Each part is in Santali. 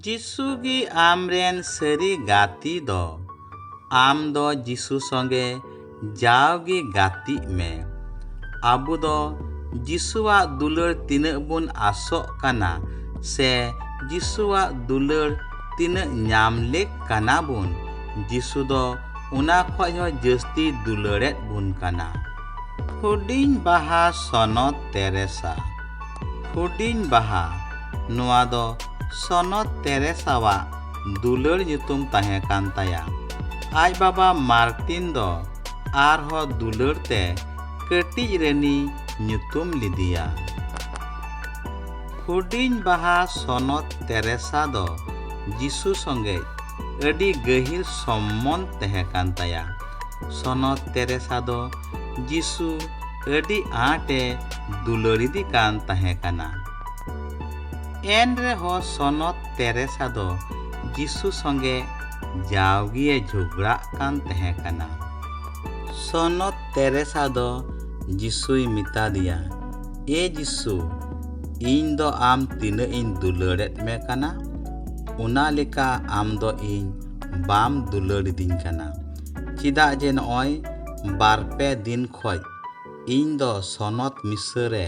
ᱡᱤᱥᱩ ᱜᱮ ᱟᱢ ᱨᱮᱱ ᱥᱟᱹᱨᱤ ᱜᱟᱛᱮ ᱫᱚ᱾ ᱟᱢ ᱫᱚ ᱡᱤᱥᱩ ᱥᱚᱸᱜᱮ ᱡᱟᱣ ᱜᱮ ᱜᱟᱛᱮᱜ ᱢᱮ᱾ ᱟᱵᱚ ᱫᱚ ᱡᱤᱥᱩᱣᱟᱜ ᱫᱩᱞᱟᱹᱲ ᱛᱤᱱᱟᱹᱜ ᱵᱚᱱ ᱟᱥᱚᱜ ᱠᱟᱱᱟ ᱥᱮ ᱡᱤᱥᱩᱣᱟᱜ ᱫᱩᱞᱟᱹᱲ ᱛᱤᱱᱟᱹᱜ ᱧᱟᱢ ᱞᱮᱠ ᱠᱟᱱᱟ ᱵᱚᱱ, ᱡᱤᱥᱩ ᱫᱚ ᱚᱱᱟ ᱠᱷᱚᱡ ᱦᱚᱸ ᱡᱟᱹᱥᱛᱤᱭ ᱫᱩᱞᱟᱹᱲᱮᱫ ᱵᱚᱱ ᱠᱟᱱᱟ᱾ ᱦᱩᱰᱤᱧ ᱵᱟᱦᱟ ᱥᱚᱱᱚᱛ ᱛᱮᱨᱮᱥᱟ᱾ ᱦᱩᱰᱤᱧ ᱵᱟᱦᱟ ᱱᱚᱣᱟ ᱫᱚ ᱥᱚᱱᱚᱛ ᱛᱮᱨᱮᱥᱟᱣᱟᱜ ᱫᱩᱞᱟᱹᱲ ᱧᱩᱛᱩᱢ ᱛᱟᱦᱮᱸ ᱠᱟᱱ ᱛᱟᱭᱟ᱾ ᱟᱡ ᱵᱟᱵᱟ ᱢᱟᱨᱴᱤᱱ ᱫᱚ ᱟᱨᱦᱚᱸ ᱫᱩᱞᱟᱹᱲ ᱛᱮ ᱠᱟᱹᱴᱤᱡ ᱨᱟᱹᱱᱤᱭ ᱧᱩᱛᱩᱢ ᱞᱤᱫᱤᱭᱟ᱾ ᱦᱩᱰᱤᱧ ᱵᱟᱦᱟ ᱥᱚᱱᱚᱛ ᱛᱮᱨᱮᱥᱟ ᱫᱚ ᱡᱤᱥᱩ ᱥᱚᱸᱜᱮᱡ ᱟᱹᱰᱤ ᱜᱟᱹᱦᱤᱨ ᱥᱚᱢᱢᱚᱸᱫᱷ ᱛᱟᱦᱮᱸ ᱠᱟᱱ ᱛᱟᱭᱟ᱾ ᱥᱚᱱᱚᱛ ᱛᱮᱨᱮᱥᱟ ᱫᱚ ᱡᱤᱥᱩ ᱟᱹᱰᱤ ᱟᱸᱴ ᱮ ᱫᱩᱞᱟᱹᱲᱤᱫᱤ ᱠᱟᱱ ᱛᱟᱦᱮᱸ ᱠᱟᱱᱟ᱾ ᱮᱱ ᱨᱮᱦᱚᱸ ᱥᱚᱱᱚᱛ ᱛᱮᱨᱮᱥᱟ ᱫᱚ ᱡᱤᱥᱩ ᱥᱚᱸᱜᱮ ᱡᱟᱣᱜᱮ ᱮ ᱡᱷᱚᱜᱽᱲᱟᱜ ᱠᱟᱱ ᱛᱟᱦᱮᱸ ᱠᱟᱱᱟ᱾ ᱥᱚᱱᱚᱛ ᱛᱮᱨᱮᱥᱟ ᱫᱚ ᱡᱤᱥᱩᱭ ᱢᱮᱛᱟᱫᱮᱭᱟ, ᱮ ᱡᱤᱥᱩ, ᱤᱧ ᱫᱚ ᱟᱢ ᱛᱤᱱᱟᱹᱜ ᱤᱧ ᱫᱩᱞᱟᱹᱲ ᱮᱫ ᱢᱮ ᱠᱟᱱᱟ, ᱚᱱᱟ ᱞᱮᱠᱟ ᱟᱢ ᱫᱚ ᱤᱧ ᱵᱟᱢ ᱫᱩᱞᱟᱹᱲᱤᱫᱤᱧ ᱠᱟᱱᱟ᱾ ᱪᱮᱫᱟᱜ ᱡᱮ ᱱᱚᱜᱼᱚᱭ ᱵᱟᱨ ᱯᱮ ᱫᱤᱱ ᱠᱷᱚᱡ ᱤᱧ ᱫᱚ ᱥᱚᱱᱚᱛ ᱢᱤᱥᱟᱹ ᱨᱮ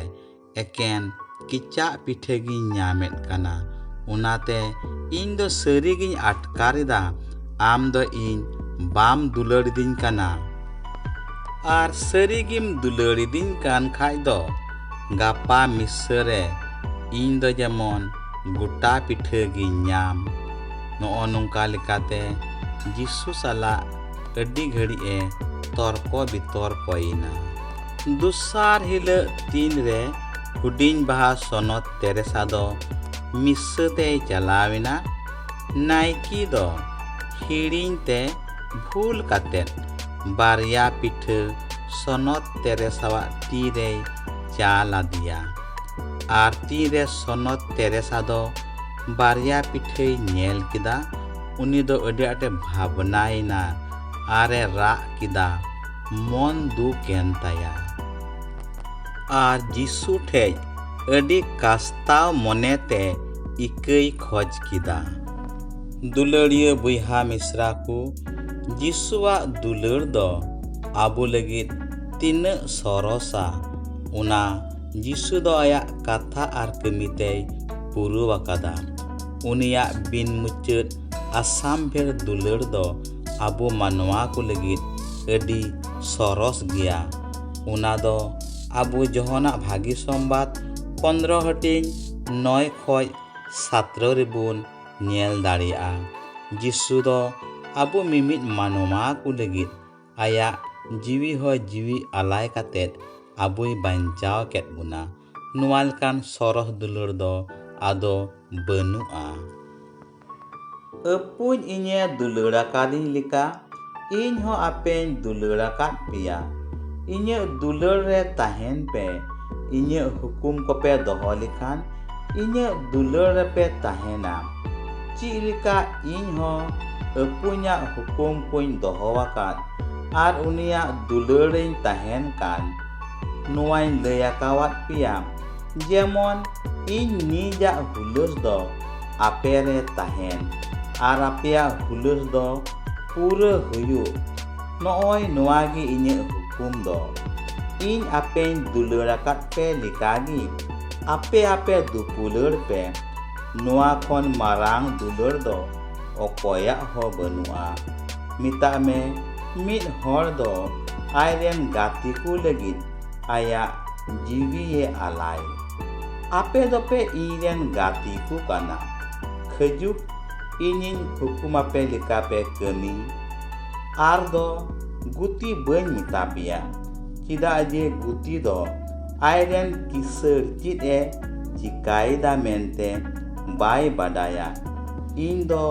ᱮᱠᱮᱱ ᱠᱮᱪᱟᱜ ᱯᱤᱴᱷᱟᱹ ᱜᱤᱧ ᱧᱟᱢᱮᱫ ᱠᱟᱱᱟ ᱚᱱᱟᱛᱮ ᱤᱧ ᱫᱚ ᱥᱟᱹᱨᱤ ᱜᱤᱧ ᱟᱴᱠᱟᱨ ᱮᱫᱟ ᱟᱢ ᱫᱚ ᱤᱧ ᱵᱟᱢ ᱫᱩᱞᱟᱹᱲᱤᱫᱤᱧ ᱠᱟᱱᱟ ᱟᱨ ᱥᱟᱹᱨᱤ ᱜᱮᱢ ᱫᱩᱞᱟᱹᱲᱤᱫᱤᱧ ᱠᱟᱱ ᱠᱷᱟᱡ ᱫᱚ ᱜᱟᱯᱟ ᱢᱤᱥᱟᱹ ᱨᱮ ᱤᱧ ᱫᱚ ᱡᱮᱢᱚᱱ ᱜᱚᱴᱟ ᱯᱤᱴᱷᱟᱹ ᱜᱤᱧ ᱧᱟᱢ ᱱᱚᱜᱼᱚ ᱱᱚᱝᱠᱟ ᱞᱮᱠᱟᱛᱮ ᱡᱤᱥᱩ ᱥᱟᱞᱟᱜ ᱟᱹᱰᱤ ᱜᱷᱟᱹᱲᱤᱡ ᱮ ᱛᱚᱨᱠᱚ ᱵᱤᱛᱚᱨᱠᱚᱭᱮᱱᱟ ᱫᱚᱥᱟᱨ ᱦᱤᱞᱟᱹᱜ ᱛᱤᱱ ᱨᱮ ᱦᱩᱰᱤᱧ ᱵᱟᱦᱟ ᱥᱚᱱᱚᱛ ᱛᱮᱨᱮᱥᱟ ᱫᱚ ᱢᱤᱥᱥᱟᱹ ᱛᱮᱭ ᱪᱟᱞᱟᱣᱮᱱᱟ ᱱᱟᱭᱠᱤ ᱫᱚ ᱦᱤᱲᱤᱧ ᱛᱮ ᱵᱷᱩᱞ ᱠᱟᱛᱮᱫ ᱵᱟᱨᱭᱟ ᱯᱤᱴᱷᱟᱹ ᱥᱚᱱᱚᱛ ᱛᱮᱨᱮᱥᱟᱣᱟᱜ ᱛᱤ ᱨᱮᱭ ᱪᱟᱞ ᱟᱫᱮᱭᱟ ᱟᱨ ᱛᱤ ᱨᱮ ᱥᱚᱱᱚᱛ ᱛᱮᱨᱮᱥᱟ ᱫᱚ ᱵᱟᱨᱭᱟ ᱯᱤᱴᱷᱟᱹᱭ ᱧᱮᱞ ᱠᱮᱫᱟ ᱩᱱᱤ ᱫᱚ ᱟᱹᱰᱤ ᱟᱸᱴᱮ ᱵᱷᱟᱵᱽᱱᱟᱭᱮᱱᱟ ᱟᱨᱮ ᱨᱟᱜ ᱠᱮᱫᱟ ᱢᱚᱱ ᱫᱩᱠᱮᱱ ᱛᱟᱭᱟ ᱟᱨ ᱡᱤᱥᱩ ᱴᱷᱮᱡ ᱟᱹᱰᱤ ᱠᱟᱥᱛᱟᱣ ᱢᱚᱱᱮᱛᱮ ᱤᱠᱟᱹᱭ ᱠᱷᱚᱡ ᱠᱮᱫᱟ ᱫᱩᱞᱟᱹᱲᱤᱭᱟᱹ ᱵᱚᱭᱦᱟ ᱢᱤᱥᱨᱟ ᱠᱚ ᱡᱤᱥᱩᱣᱟᱜ ᱫᱩᱞᱟᱹᱲ ᱫᱚ ᱟᱵᱚ ᱞᱟᱹᱜᱤᱫ ᱛᱤᱱᱟᱹᱜ ᱥᱚᱨᱚᱥᱟ ᱚᱱᱟ ᱡᱤᱥᱩ ᱫᱚ ᱟᱭᱟᱜ ᱠᱟᱛᱷᱟ ᱟᱨ ᱠᱟᱹᱢᱤ ᱛᱮᱭ ᱯᱩᱨᱟᱹᱣ ᱟᱠᱟᱫᱟ ᱩᱱᱤᱭᱟᱜ ᱵᱤᱱ ᱢᱩᱪᱟᱹᱫ ᱟᱥᱟᱢ ᱵᱷᱮᱲ ᱫᱩᱞᱟᱹᱲ ᱫᱚ ᱟᱵᱚ ᱢᱟᱱᱣᱟ ᱠᱚ ᱞᱟᱹᱜᱤᱫ ᱟᱹᱰᱤ ᱥᱚᱨᱚᱥ ᱜᱮᱭᱟ ᱚᱱᱟ ᱫᱚ ᱟᱵᱚ ᱡᱚᱦᱚᱱᱟᱜ ᱵᱷᱟᱹᱜᱤ ᱥᱚᱢᱵᱟᱫ ᱯᱚᱱᱨᱚ ᱦᱟᱹᱴᱤᱧ ᱱᱚᱭ ᱠᱷᱚᱡ ᱥᱟᱛᱨᱚ ᱨᱮᱵᱚᱱ ᱧᱮᱞ ᱫᱟᱲᱮᱭᱟᱜᱼᱟ ᱡᱤᱥᱩ ᱫᱚ ᱟᱵᱚ ᱢᱤᱢᱤᱫ ᱢᱟᱱᱣᱟ ᱠᱚ ᱞᱟᱹᱜᱤᱫ ᱟᱭᱟᱜ ᱡᱤᱣᱤ ᱦᱚᱸ ᱡᱤᱣᱤ ᱟᱞᱟᱭ ᱠᱟᱛᱮ ᱟᱵᱚᱭ ᱵᱟᱧᱪᱟᱣ ᱠᱮᱫ ᱵᱚᱱᱟ᱾ ᱱᱚᱣᱟ ᱞᱮᱠᱟᱱ ᱥᱚᱨᱚᱥ ᱫᱩᱞᱟᱹᱲ ᱫᱚ ᱟᱫᱚ ᱵᱟᱹᱱᱩᱜᱼᱟ᱾ ᱟᱹᱯᱩᱧ ᱤᱧᱮ ᱫᱩᱞᱟᱹᱲ ᱟᱠᱟᱫᱤᱧ ᱞᱮᱠᱟ ᱤᱧ ᱦᱚᱸ ᱟᱯᱮᱧ ᱫᱩᱞᱟᱹᱲ ᱟᱠᱟᱫ ᱯᱮᱭᱟ᱾ ᱤᱧᱟᱹᱜ ᱫᱩᱞᱟᱹᱲ ᱨᱮ ᱛᱟᱦᱮᱸᱱ ᱯᱮ᱾ ᱤᱧᱟᱹᱜ ᱦᱩᱠᱩᱢ ᱠᱚᱯᱮ ᱫᱚᱦᱚ ᱞᱮᱠᱷᱟᱱ ᱤᱧᱟᱹᱜ ᱫᱩᱞᱟᱹᱲ ᱨᱮᱯᱮ ᱛᱟᱦᱮᱱᱟ ᱪᱮᱫ ᱞᱮᱠᱟ ᱤᱧ ᱦᱚᱸ ᱟᱹᱯᱩᱧᱟᱜ ᱦᱩᱠᱩᱢ ᱠᱚᱧ ᱫᱚᱦᱚ ᱟᱠᱟᱫ ᱟᱨ ᱩᱱᱤᱭᱟᱜ ᱫᱩᱞᱟᱹᱲ ᱨᱮᱧ ᱛᱟᱦᱮᱱ ᱠᱟᱱ ᱱᱚᱣᱟᱧ ᱞᱟᱹᱭ ᱟᱠᱟᱣᱟᱫ ᱯᱮᱭᱟ ᱡᱮᱢᱚᱱ ᱤᱧ ᱱᱤᱡᱟᱜ ᱦᱩᱞᱟᱹᱥ ᱫᱚ ᱟᱯᱮ ᱨᱮ ᱛᱟᱦᱮᱱ ᱟᱨ ᱟᱯᱮᱭᱟᱜ ᱦᱩᱞᱟᱹᱥ ᱫᱚ ᱯᱩᱨᱟᱹ ᱦᱩᱭᱩᱜ ᱱᱚᱜᱼᱚᱭ ᱱᱚᱣᱟ ᱜᱮ ᱤᱧᱟᱹᱜ ᱦᱩᱠᱩᱢ ᱫᱚ ᱤᱧ ᱟᱯᱮᱧ ᱫᱩᱞᱟᱹᱲ ᱟᱠᱟᱫ ᱯᱮ ᱞᱮᱠᱟ ᱜᱮ ᱟᱯᱮ ᱟᱯᱮ ᱫᱩᱯᱩᱞᱟᱹᱲ ᱯᱮ ᱱᱚᱣᱟ ᱠᱷᱚᱱ ᱢᱟᱨᱟᱝ ᱫᱩᱞᱟᱹᱲ ᱫᱚ ᱚᱠᱚᱭᱟᱜ ᱦᱚᱸ ᱵᱟᱹᱱᱩᱜᱼᱟ ᱢᱮᱛᱟᱜ ᱢᱮ ᱢᱤᱫ ᱦᱚᱲ ᱫᱚ ᱟᱡ ᱨᱮᱱ ᱜᱟᱛᱮ ᱠᱚ ᱞᱟᱹᱜᱤᱫ ᱟᱭᱟᱜ ᱡᱤᱣᱤᱭᱮ ᱟᱞᱟᱭ ᱟᱯᱮ ᱫᱚᱯᱮ ᱤᱧ ᱨᱮᱱ ᱜᱟᱛᱮ ᱠᱚ ᱠᱟᱱᱟ ᱠᱷᱟᱹᱡᱩᱠ ᱤᱧᱤᱧ ᱦᱩᱠᱩᱢᱟᱯᱮ ᱞᱮᱠᱟ ᱯᱮ ᱠᱟᱹᱢᱤ ᱟᱨ ᱫᱚ ᱜᱩᱛᱤ ᱵᱟᱹᱧ ᱢᱮᱛᱟ ᱯᱮᱭᱟ ᱪᱮᱫᱟᱜ ᱡᱮ ᱜᱩᱛᱤ ᱫᱚ ᱟᱡᱨᱮᱱ ᱠᱤᱥᱟᱹᱲ ᱪᱮᱫ ᱮ ᱪᱤᱠᱟᱭᱮᱫᱟ ᱢᱮᱱᱛᱮ ᱵᱟᱭ ᱵᱟᱰᱟᱭᱟ ᱤᱧ ᱫᱚ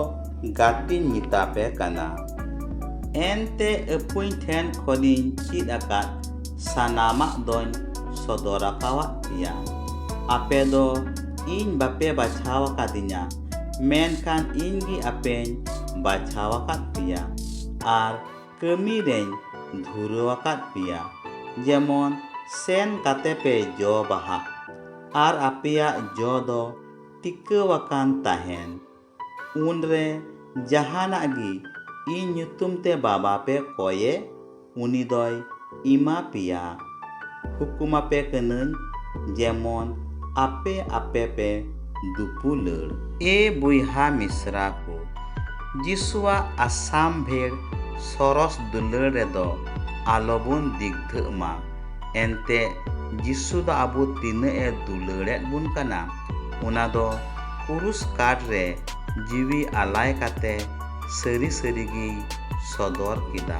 ᱜᱟᱛᱮᱧ ᱢᱮᱛᱟ ᱯᱮ ᱠᱟᱱᱟ ᱮᱱᱛᱮ ᱟᱹᱯᱩᱧ ᱴᱷᱮᱱ ᱠᱷᱚᱱᱤᱧ ᱪᱮᱫ ᱟᱠᱟᱫ ᱥᱟᱱᱟᱢᱟᱜ ᱫᱚᱧ ᱥᱚᱫᱚᱨ ᱟᱠᱟᱣᱟᱫ ᱯᱮᱭᱟ ᱟᱯᱮ ᱫᱚ ᱤᱧ ᱵᱟᱯᱮ ᱵᱟᱪᱷᱟᱣ ᱟᱠᱟᱫᱤᱧᱟ ᱢᱮᱱᱠᱷᱟᱱ ᱤᱧ ᱜᱮ ᱟᱯᱮᱧ ᱵᱟᱪᱷᱟᱣ ᱟᱠᱟᱫ ᱯᱮᱭᱟ ᱟᱨ ᱠᱟᱹᱢᱤ ᱨᱮᱧ ᱫᱷᱩᱨᱟᱹᱣ ᱟᱠᱟᱫ ᱯᱮᱭᱟ ᱡᱮᱢᱚᱱ ᱥᱮᱱ ᱠᱟᱛᱮ ᱯᱮ ᱡᱚ ᱵᱟᱦᱟᱜ ᱟᱨ ᱟᱯᱮᱭᱟᱜ ᱡᱚ ᱫᱚ ᱴᱤᱠᱟᱹᱣ ᱟᱠᱟᱱ ᱛᱟᱦᱮᱱ᱾ ᱩᱱᱨᱮ ᱡᱟᱦᱟᱱᱟᱜ ᱜᱮ ᱤᱧ ᱧᱩᱛᱩᱢ ᱛᱮ ᱵᱟᱵᱟ ᱯᱮ ᱠᱚᱭᱮ᱾ ᱩᱱᱤ ᱫᱚᱭ ᱤᱢᱟ ᱯᱮᱭᱟ᱾ ᱦᱩᱠᱩᱢ ᱟᱯᱮ ᱠᱟᱹᱱᱟᱹᱧ ᱡᱮᱢᱚᱱ ᱟᱯᱮ ᱟᱯᱮ ᱯᱮ ᱫᱩᱯᱩᱞᱟᱹᱲ᱾ ᱮ ᱵᱚᱭᱦᱟ ᱢᱤᱥᱨᱟ ᱠᱚ, ᱡᱤᱥᱩᱣᱟᱜ ᱟᱥᱟᱢᱵᱷᱮᱲ ᱥᱚᱨᱚᱥ ᱫᱩᱞᱟᱹᱲ ᱨᱮ ᱫᱚ ᱟᱞᱚ ᱵᱚᱱ ᱫᱤᱜᱽᱫᱷᱟᱹᱜ ᱢᱟ᱾ ᱮᱱᱛᱮ ᱡᱤᱥᱩ ᱫᱚ ᱟᱵᱚ ᱛᱤᱱᱟᱹᱜ ᱮ ᱫᱩᱞᱟᱹᱲ ᱮᱫ ᱵᱚᱱ ᱠᱟᱱᱟ᱾ ᱚᱱᱟ ᱫᱚ ᱠᱩᱨᱩᱥ ᱠᱟᱴ ᱨᱮ ᱡᱤᱣᱤ ᱟᱞᱟᱭ ᱠᱟᱛᱮ ᱥᱟᱹᱨᱤ ᱥᱟᱹᱨᱤ ᱜᱮᱭ ᱥᱚᱫᱚᱨ ᱠᱮᱫᱟ᱾